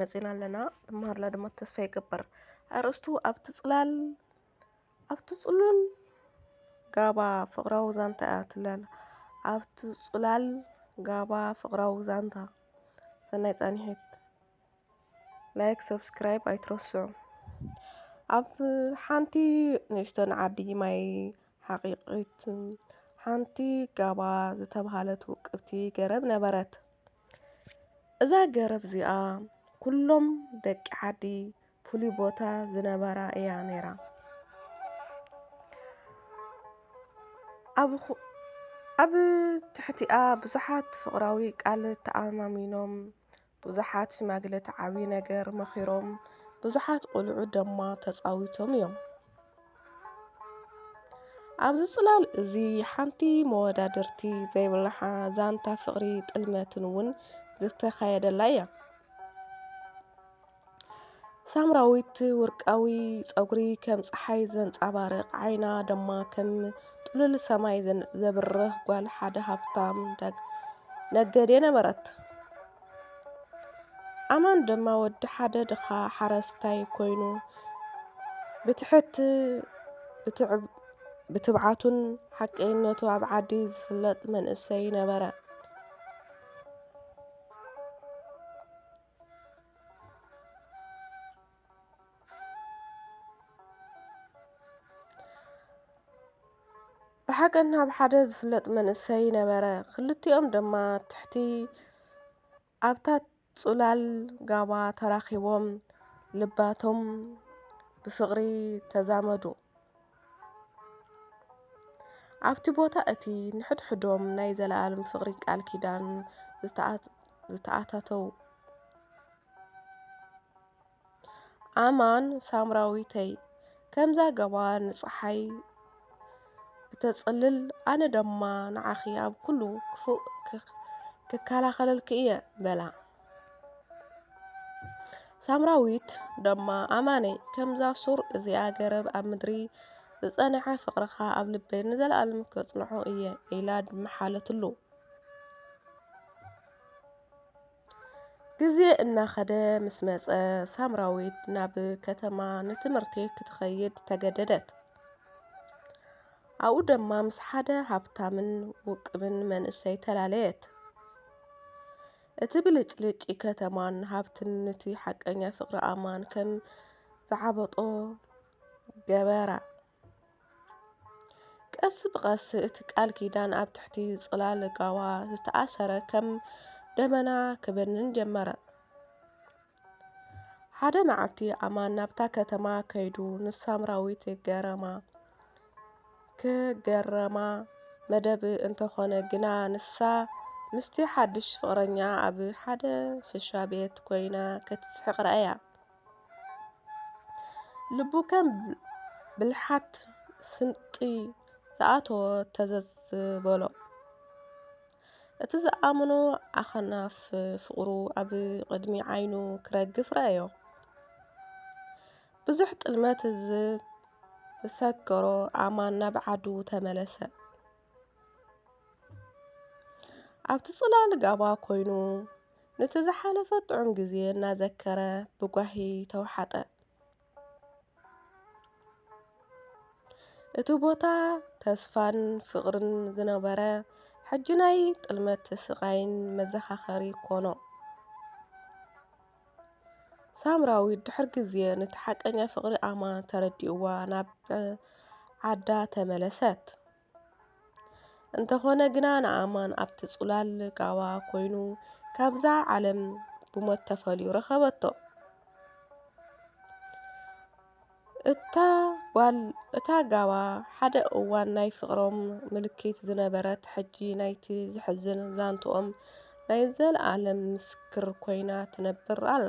መጺና ኣለና ትመሃርላ ድማ ተስፋ ይገብር። ኣርእስቱ ኣብቲ ጽላል ኣብቲ ጽሉል ጋባ ፍቕራዊ ዛንታ እያ ትላል ኣብቲ ጽላል ጋባ ፍቕራዊ ዛንታ ሰናይ ጻንሒት ላይክ ሰብስክራይብ ኣይትረስዑ ኣብ ሓንቲ ንእሽተን ዓዲ ማይ ሓቂቂት ሓንቲ ጋባ ዝተብሃለት ውቅብቲ ገረብ ነበረት እዛ ገረብ እዚኣ ኩሎም ደቂ ዓዲ ፍሉይ ቦታ ዝነበራ እያ ነይራ። ኣብ ትሕቲኣ ብዙሓት ፍቕራዊ ቃል ተኣማሚኖም፣ ብዙሓት ሽማግለታት ዓብዪ ነገር መኺሮም፣ ብዙሓት ቁልዑ ደማ ተጻዊቶም እዮም። ኣብዚ ጽላል እዚ ሓንቲ መወዳድርቲ ዘይብላሓ ዛንታ ፍቕሪ ጥልመትን እውን ዝተኻየደላ እያ። ሳምራዊት ውርቃዊ ጸጉሪ ከም ጸሓይ ዘንጻባርቕ ዓይና ደማ ከም ጥሉል ሰማይ ዘብርህ ጓል ሓደ ሃብታም ነገዴ ነበረት። ኣማን ድማ ወዲ ሓደ ድኻ ሓረስታይ ኮይኑ ብትሕት ብትብዓቱን ሓቀይነቱ ኣብ ዓዲ ዝፍለጥ መንእሰይ ነበረ። ብሓቀን ኣብ ሓደ ዝፍለጥ መንእሰይ ነበረ። ክልቲኦም ድማ ትሕቲ ኣብታ ጽላል ጋባ ተራኺቦም ልባቶም ብፍቕሪ ተዛመዱ። ኣብቲ ቦታ እቲ ንሕድሕዶም ናይ ዘለኣለም ፍቕሪ ቃል ኪዳን ዝተኣታተዉ። ኣማን ሳምራዊተይ ከምዛ ገባር ንጸሓይ እተጽልል ኣነ ደማ ንዓኺ ኣብ ኩሉ ክፉእ ክከላኸለልኪ እየ በላ። ሳምራዊት ደማ ኣማነይ ከምዛ ሱር እዚኣ ገረብ ኣብ ምድሪ ዝጸንሐ ፍቕርኻ ኣብ ልበይ ንዘለኣለም ከጽንዖ እየ ኢላ ምሓለትሉ። ግዜ እናኸደ ምስ መጸ፣ ሳምራዊት ናብ ከተማ ንትምህርቲ ክትኸይድ ተገደደት። ኣብኡ ድማ ምስ ሓደ ሃብታምን ውቁብን መንእሰይ ተላለየት። እቲ ብልጭልጭ ከተማን ሃብትን ንቲ ሓቀኛ ፍቕሪ ኣማን ከም ዝዓበጦ ገበራ። ቀስ ብቐስ እቲ ቃል ኪዳን ኣብ ትሕቲ ጽላል ጋዋ ዝተኣሰረ ከም ደበና ክበንን ጀመረ። ሓደ መዓልቲ ኣማን ናብታ ከተማ ከይዱ ንሳምራዊት ገረማ ክገረማ መደብ እንተኾነ ግና ንሳ ምስቲ ሓድሽ ፍቕረኛ ኣብ ሓደ ሽሻ ቤት ኮይና ክትስሕቕ ረኣያ። ልቡ ከም ብልሓት ስንቂ ዝኣተዎ ተዘዝ በሎ። እቲ ዝኣምኖ ኣኽናፍ ፍቕሩ ኣብ ቕድሚ ዓይኑ ክረግፍ ረኣዮ። ብዙሕ ጥልመት ዝሰከሮ ኣማን ናብ ዓዱ ተመለሰ። ኣብቲ ጽላል ጋባ ኮይኑ ንቲ ዝሓለፈ ጥዑም ግዜ እናዘከረ ብጓሂ ተውሓጠ። እቲ ቦታ ተስፋን ፍቕርን ዝነበረ ሕጂ ናይ ጥልመት ስቓይን መዘኻኸሪ ኮኖ። ሳምራዊት ድሕሪ ግዜ ንቲ ሓቀኛ ፍቕሪ ኣማ ተረዲእዋ ናብ ዓዳ ተመለሰት። እንተኾነ ግና ናኣማን ኣብቲ ጽላል ጋባ ኮይኑ ካብዛ ዓለም ብሞት ተፈልዩ ረኸበቶ። እታ ጋባ ሓደ እዋን ናይ ፍቕሮም ምልክት ዝነበረት ሕጂ ናይቲ ዘሕዝን ዛንትኦም ናይ ዘለኣለም ምስክር ኮይና ትነብር ኣላ።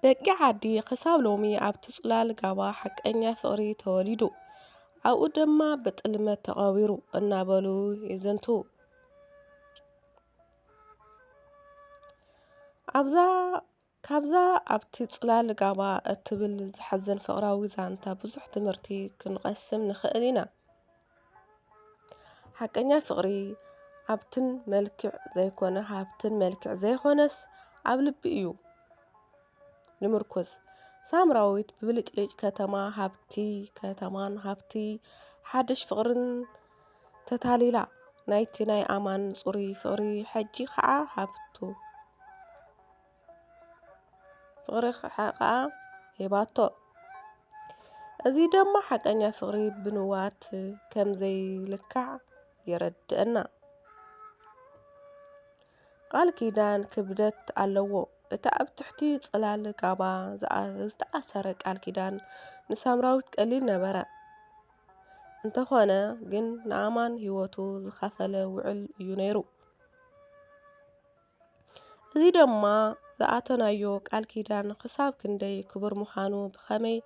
ደቂ ዓዲ ክሳብ ሎሚ ኣብቲ ጽላል ጋባ ሓቀኛ ፍቕሪ ተወሊዱ፣ ኣብኡ ድማ ብጥልመት ተቐቢሩ እናበሉ ይዝንትዉ። ኣብዛ ካብዛ ኣብቲ ጽላል ጋባ እትብል ዘሕዝን ፍቕራዊ ዛንታ ብዙሕ ትምህርቲ ክንቐስም ንኽእል ኢና። ሓቀኛ ፍቅሪ ኣብትን መልክዕ ዘይኮነ ሃብትን መልክዕ ዘይኮነስ ኣብ ልቢ እዩ ልምርኩዝ ሳምራዊት ብብልጭልጭ ከተማ ሃብቲ ከተማን ሃብቲ ሓድሽ ፍቅርን ተታሊላ ናይቲ ናይ ኣማን ጹሩይ ፍቅሪ ሕጂ ከኣ ሃብቱ ፍቕሪ ከኣ ሂባቶ። እዚ ደማ ሓቀኛ ፍቕሪ ብንዋት ከም ዘይልካዕ የረድእና። ቃል ኪዳን ክብደት ኣለዎ። እቲ ኣብ ትሕቲ ጽላል ጋባ ዝተኣሰረ ቃል ኪዳን ንሳምራዊት ቀሊል ነበረ። እንተኾነ ግን ንኣማን ህይወቱ ዝኸፈለ ውዕል እዩ ነይሩ። እዚ ድማ ዝኣተናዮ ቃል ኪዳን ኽሳብ ክንደይ ክቡር ምዃኑ ብኸመይ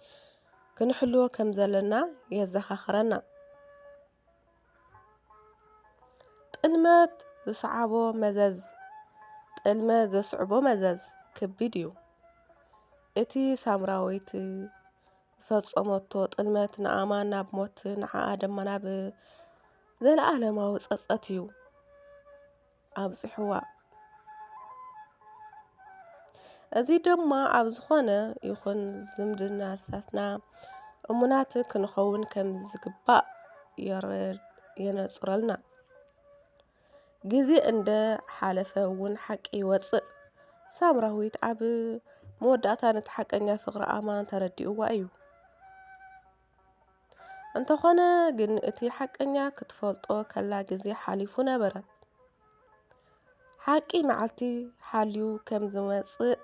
ክንሕልዎ ከም ዘለና የዘኻኽረና። ጥልመት ዝሰዓቦ መዘዝ ጥልመት ዘስዕቦ መዘዝ ከቢድ እዩ። እቲ ሳምራዊት ዝፈጸመቶ ጥልመት ንኣማን ናብ ሞት ንዓኣ ድማ ናብ ዘለኣለማዊ ጸጸት እዩ። ኣብጽሕዋ። እዚ ድማ ኣብ ዝኾነ ይኹን ዝምድናታትና እሙናት ክንኸውን ከም ዝግባእ የነጽረልና። ግዜ እንደ ሓለፈ እውን ሓቂ ይወጽእ። ሳምራዊት ኣብ መወዳእታ ነቲ ሓቀኛ ፍቕሪ ኣማን ተረዲእዋ እዩ። እንተኾነ ግን እቲ ሓቀኛ ክትፈልጦ ከላ ግዜ ሓሊፉ ነበረ። ሓቂ መዓልቲ ሓልዩ ከም ዝመጽእ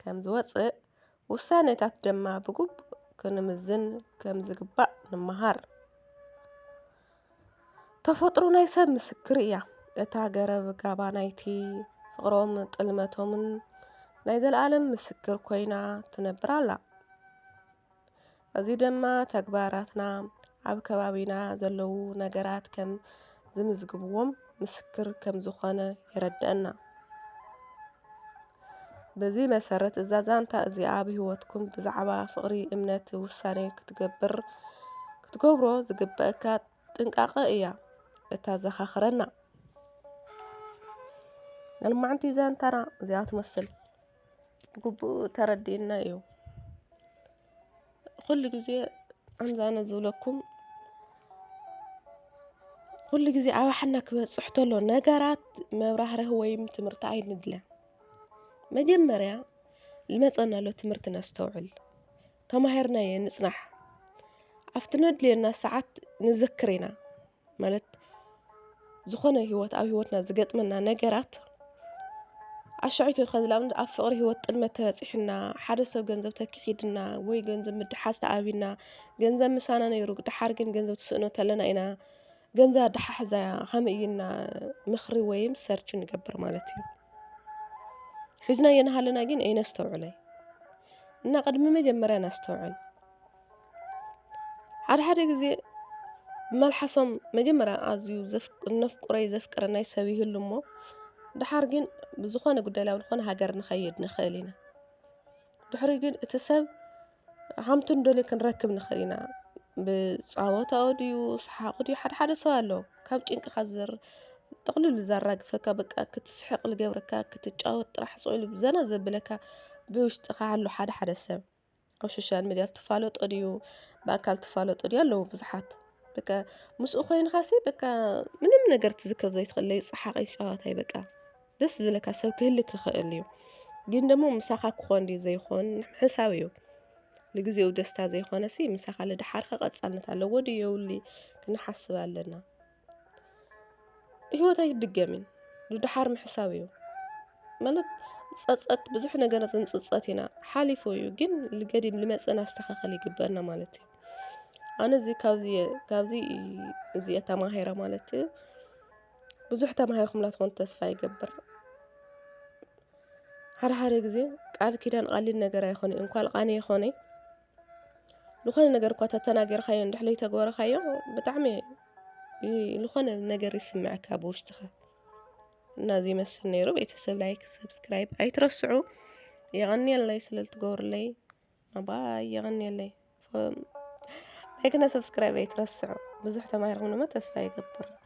ከም ዝወጽእ ውሳኔታት ድማ ብግቡእ ክንምዝን ከም ዝግባእ ንመሃር። ተፈጥሮ ናይ ሰብ ምስክር እያ። እታ ገረብ ጋባ ናይቲ ፍቕሮም ጥልመቶምን ናይ ዘለኣለም ምስክር ኮይና ትነብር ኣላ። እዚ ደማ ተግባራትና ኣብ ከባቢና ዘለዉ ነገራት ከም ዝምዝግብዎም ምስክር ከም ዝኾነ የረደእና። በዚ መሰረት እዛ ዛንታ እዚኣ ኣብ ሕይወትኩም ብዛዕባ ፍቕሪ እምነት ውሳኔ ክትገብር ክትገብሮ ዝግበእካ ጥንቃቐ እያ እታዘኻኽረና። ንልማዕንቲ ዛንታና እዚኣ ትመስል። ብግቡእ ተረዲኡና እዩ። ኩሉ ግዜ ከምዚ ኣነ ዝብለኩም ኩሉ ግዜ ኣብ ኣሓና ክበፅሕ ተሎ ነገራት መብራህርሂ ወይ ትምህርቲ ኣይንድለ። መጀመርያ ዝመፀና ዘሎ ትምህርቲ ነስተውዕል፣ ተማሂርናዮ ንፅናሕ፣ ኣብቲ ዘድልየና ሰዓት ንዘክር ኢና። ማለት ዝኾነ ህይወት ኣብ ህይወትና ዝገጥመና ነገራት ኣሻዒቱ ንኣብነት ኣብ ፍቕሪ ህይወት ጥልመት ተበጺሕና ሓደ ሰብ ገንዘብ ተኪሒድና ወይ ገንዘብ ምድሓዝ ተኣብና ገንዘብ ምሳና ነይሩ ደሓር ግን ገንዘብ ትስእኖ ተለና ኢና ገንዘብ ኣደሓሕዛ ከመይ እዩ ኢልና ምኽሪ ወይም ሰርች ንገብር ማለት እዩ። ሒዝናዮ እናሃለና ግን ኣይነስተውዕሎን እና ቅድሚ መጀመርያ ነስተውዕል። ሓደ ሓደ ግዜ መልሓሶም መጀመርያ ኣዝዩ ነፍቁረይ ዘፍቅረናይ ሰብ ይህሉ እሞ ደሓር ግን ብዝኾነ ጉዳይ ላብ ዝኾነ ሃገር ንኸይድ ንኽእል ኢና። ድሕሪ ግን እቲ ሰብ ሃምቱ እንደልዮ ክንረክብ ንኽእል ኢና። ብጸወታኡ ድዩ ሰሓቑ ድዩ ሓደ ሓደ ሰብ ኣሎ ካብ ጭንቅኻ ዘር ጥቕልሉ ዘራግፈካ በቃ ክትስሕቕ ልገብረካ ክትጫወት ጥራሕ ስቕ ኢሉ ዘና ዘብለካ ብውሽጥኻ ኣሎ ሓደ ሓደ ሰብ። ኣብ ሶሻል ሚድያ ትፋለጦ ድዩ ብኣካል ትፋለጦ ድዩ ኣለዉ ብዙሓት በቃ ምስኡ ኮይንኻሲ በቃ ምንም ነገር ትዝክር ዘይትኽእል ለይጸሓቐይ ጨዋታይ በቃ ደስ ዝብለካ ሰብ ክህሊ ክኽእል እዩ ግን ደሞ ምሳኻ ክኾን ድዩ ዘይኾን ሕሳብ እዩ ንግዜኡ ደስታ ዘይኾነሲ ምሳኻ ልድሓርኸ ቐጻልነት ኣለዎ ድዩ የውሊ ክንሓስብ ኣለና። ህይወት ኣይድገምን ንደሓር ምሕሳብ እዩ ማለት ጸጸት ብዙሕ ነገራት ንጽጸት ኢና ሓሊፉ እዩ ግን ልገዲም ልመጽእ ኣስተኻኸል ይግበና ማለት እዩ ኣነ እዚ ካብዚ ካብዚ እዚኣ ተማሂረ ማለት እዩ ብዙሕ ተማሂርኩም ላትኾን ተስፋ ይገብር ሓደ ሓደ ግዜ ቃል ኪዳን ቃሊል ነገር ኣይኮነ እንኳን ቃኔ ይኾነ ልኾነ ነገር እኳ ተተናገርካዮ እንድሕ ለይተግበረካዮ ብጣዕሚ ልኾነ ነገር ይስምዐካ ኣብ ውሽጥኻ እና እዚ ይመስል ነይሩ ቤተሰብ ላይክ ሰብስክራይብ ኣይትረስዑ የቐንየለይ ስለ ልትገብሩለይ ኣባይ የቐንየለይ ላይክና ሰብስክራይብ ኣይትረስዑ ብዙሕ ተማሂርኩም ድማ ተስፋ ይገብር